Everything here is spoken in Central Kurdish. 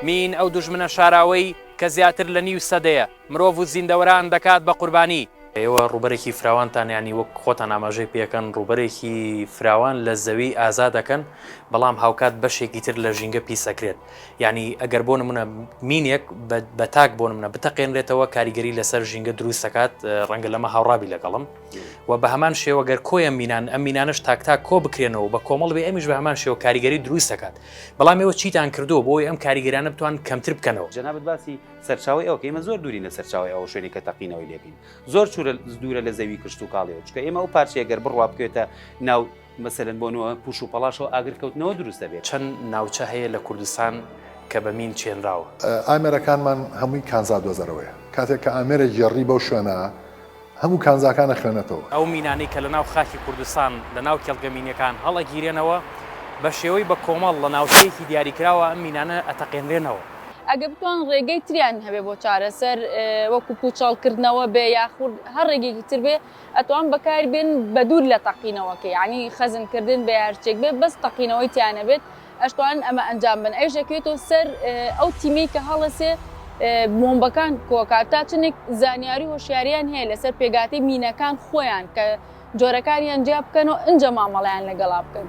مین ئەو دوژمنە شاراوەی کە زیاتر لە نیو سەدەیە مرۆڤ و زیندەوەران دەکات بە قوربانی. ئێوە ڕووبەرێکی فراوانتان یانی وەک خۆتان ئاماژەی پێکەن ڕووبەرێکی فراوان لە زەوی ئازا دەکەن بەڵام هاوکات بەشێکی تر لە ژینگە پیس ئەکرێت یانی ئەگەر بۆ نمونە مینێک بە تاک بۆ نمونە بتەقێنرێتەوە کاریگەری لەسەر ژینگە دروست دەکات ڕەنگە لەمە هاوڕابی لەگەڵم. و بە هەمان شێوە گەر کۆیان مینان ئەم مینانش تاکتاک کۆ بکرێنەوە بە کۆمەڵ بێ ئەمیش بە هەمان شێوە کاریگەری دروست دەکات بەڵام ئێوە چیتان کردو بۆی ئەم کاریگەرانە بتوان کەمتر بکەنەوە جەنابت باسی سەرچاوەی ئەوکە ئێمە زۆر دوورین لە سەرچاوی ئەو شوێنی کە تەقینەوەی لێکەین زۆر چورە دوورە لە زەوی کشت و کاڵیەوە چکە ئێمە ئەو پارچەیە گەر بڕوا بکوێتە ناو مەسەلەن بۆ نوە پوش و پەڵاشەوە ئاگر کەوتنەوە دروست دەبێت. چەند ناوچە هەیە لە کوردستان کە بە مین چێنراوە؟ ئامێرەکانمان هەمووی کانزا دۆزەرەوەیە. کاتێک کە ئامێرێک گێڕی بەو شوێنە، هەموو کانزاکان ئەخوێنێتەوە. ئەو مینانەی کە لە ناو خاکی کوردستان لە ناو کێڵگە مینیەکان هەڵئەگیرێنەوە، بە شێوەی بە کۆمەڵ لە ناوچەیەکی دیاریکراوە ئەم مینانە ئەتەقێنرێنەوە. ئەگەر بتوان ڕێگەی تریان هەبێ بۆ چارەسەر، وەکو پوچەڵکردنەوە بێ یاخود هەر ڕێگەیەکی تر بێ، ئەتوان بەکار بێن بە دوور لە تەقینەوە کە یەعنی خەزن کردن بە یارچێک بێت بەس تەقینەوەی تیا نەبێت ئەشتوانن ئەمە ئەنجام بن ئەیش ئەکرێتۆ سەر ئەو تیمەی کە هەڵەسێ بۆمبەکان کۆکات تا چنێک زانیاری هۆشیاریان هەیە لەسەر پێگاتی مینەکان خۆیان کە جۆرەکانیان جیا بکەن و ئنجە مامەڵیان لەگەڵا بکەن.